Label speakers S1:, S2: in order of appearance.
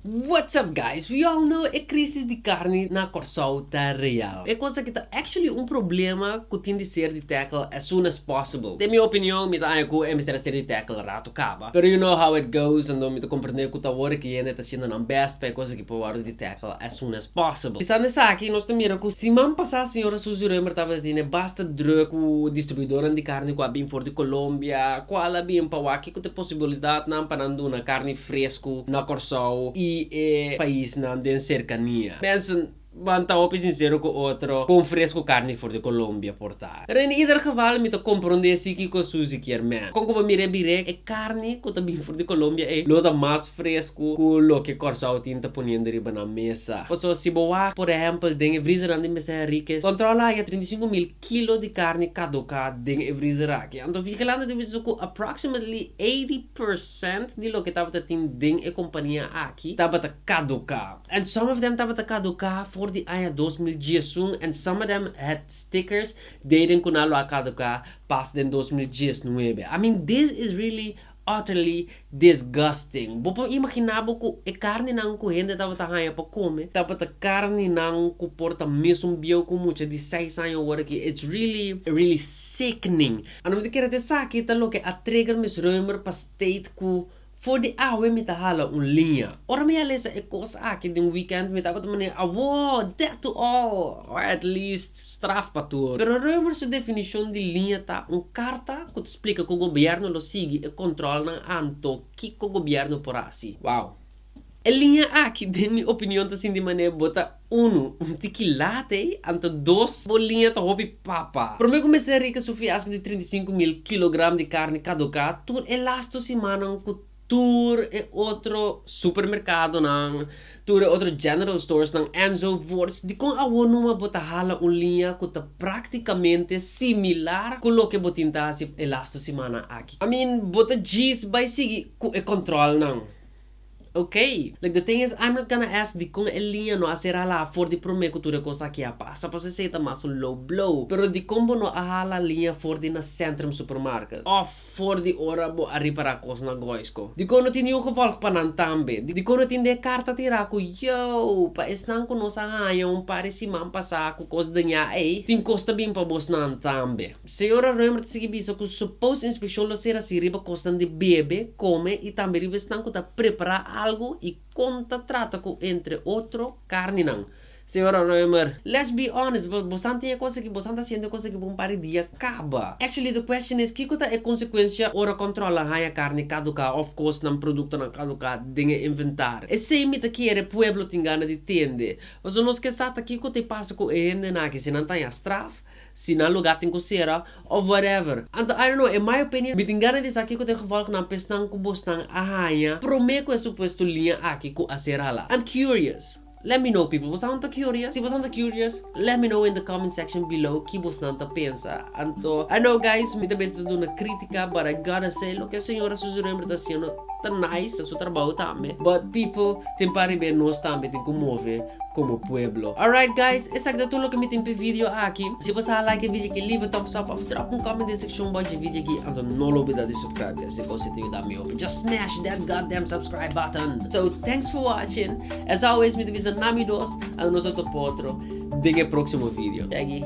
S1: What's up guys, we all know e crisis di carne na Corsou ta real. E cos aki ta actually un problema cu tin di ser di tackle as soon as possible. Den mi opinion mi ta aña cu e mester a ser di tackle rato caba. Pero you know how it goes anto mi ta comprende cu ta worde cu yende ta haciendo nan best pa e cos aki por worde di tackle as soon as possible. Pensando esaki nos ta mira cu siman pasa señora Suzy Reumer tabata tene basta druk cu distribuidonan di carne cu a bin for di Colombia, cual a bin pa wak kico ta e posibilidadnan pa nan duna carne fresku na Kòrsou i e paisnan den serkania. Mensen ban ta hopi sinsero ku otro kon fresku karni for di Kolombia por ta. Pero en ieder geval mi ta komprondé si kiko Susi kier men. Kon ku bo mir'é birek, e karni ku ta bin for di Kolombia ei lo ta mas fresku ku loke Kòrsou tin ta poniendo riba nan mesa. Pasobra si bo wak, por ehèmpel, den e vrizernan di Mester Henriquez, Kòntròl Haña trinta i sinku mil. kilo di karni kadoká den e vrizer aki. Anto Vigelante tin bisa ku approximately eighty percent di loke tabata tin den e kompania aki tabata kadoká. And some of them tabata kadoká for di aña dos mil diesun and some of them had stickers deden ku nan lo a kadoká pas den dos mil diesnuebe. I mean this is really utterly disgusting. Bo por imaginá bo ku e karninan ku hende tabata haña pa kome tabata karninan ku por ta mesun bieu ku un mucha di seis aña awor aki. It's really, really sickening. A no mi ta kere ta esaki ta loke a trigger Miss Roemer pa state ku for di awe mi ta hala un liña. Ora mi a lesa e kos aki den weekend mi tabata manera, Awoo! Death to all! Or at least. straf pa tur. Pero Roemer su definishon di liña ta un karta ku ta splika ku gobièrnu lo sigui e kòntròlnan anto kiko gobièrnu por hasi. Wow. E liña aki den mi opinion ta sinti manera bo ta unu, un tiki lat ei, anto dos, bo liña ta hopi papa. Promé ku mester rika su fiasko di trinta i sinku mil kilogram di karni kaduká tur e las tu simannan ku Tur e otro supermerkadonan, tur e otro general storesnan enzovoorts, dikon awor numa bo ta hala un liña ku ta praktikamente similar ku loke bo tin ta hasi e las dos simana aki? I mean, bo ta djis bai sigui ku e kòntròlnan. Ok, like the thing is, I'm not gonna ask dikon e liña no a ser hala afor di promé ku tur e kos aki a pasa, pasobra esei ta mas un low blow. Pero dikon bo no a hala liña for di na Centrum Supermarket? Òf For di ora bo a ripará kosnan goisko. Dikon no tin niun gevòlg pa nan tambe? Dikon no tin den e karta tin ra ku jou pa esnan ku nos a haña un par di siman pasá ku kos dañá ei? Tin kos ta bin pa bosnan tambe. Señora Roemer ta sigui bisa ku supos inspekshon lo ser hasi riba kosnan di bebe, kome i tambe riba esnan ku ta prepará algu i kon ta trata ku entre otro karninan. Señora Römer, let's be honest, bo, bosan tin e cosa aki, bosan ta haciendo e cosa aki pa un par di dia caba. Actually the question is kico ta e consecuencia ora control a haya carni caduca of cosnan, productonan caduca den e inventario? Esey mi ta kere pueblo tin gana di tende. Pasobra nos ke sa ta kico ta e pasa cu e hendenan aki, si nan ta haya straf, si nan lugar tin cu cera of whatever. Anto I don't know, in my opinion mi tin gana di sa kico ta e gevolgnan pa esnan cu bosnan a haya prome cu e supuesto linha aki cu a cera la. I'm curious. Let me know people, bosanan ta curious? Si bosanan ta curious, let me know in the comment section below ki bosnan ta pensa. Anto I know guys mi ta besi ta duna critica but I gotta say loke e señora Suzy Rember ta haciendo ta nice, ta su trabao tambe but people tin pa riba e nos tambe tin cu move como pueblo. Alright guys, esaki ta tur loke mi tin p'e video aki. Si bo sa like e video aki leave a thumbs up of drop un comment den seccion box dje video aki anto no lo bida di subscribe guys e cos ei ta yuda mi hopi just smash that goddamn subscribe button. So thanks for watching. Esau es mi ta bisa na mi dos anda nos a topa otro den e proximo video. Yagi.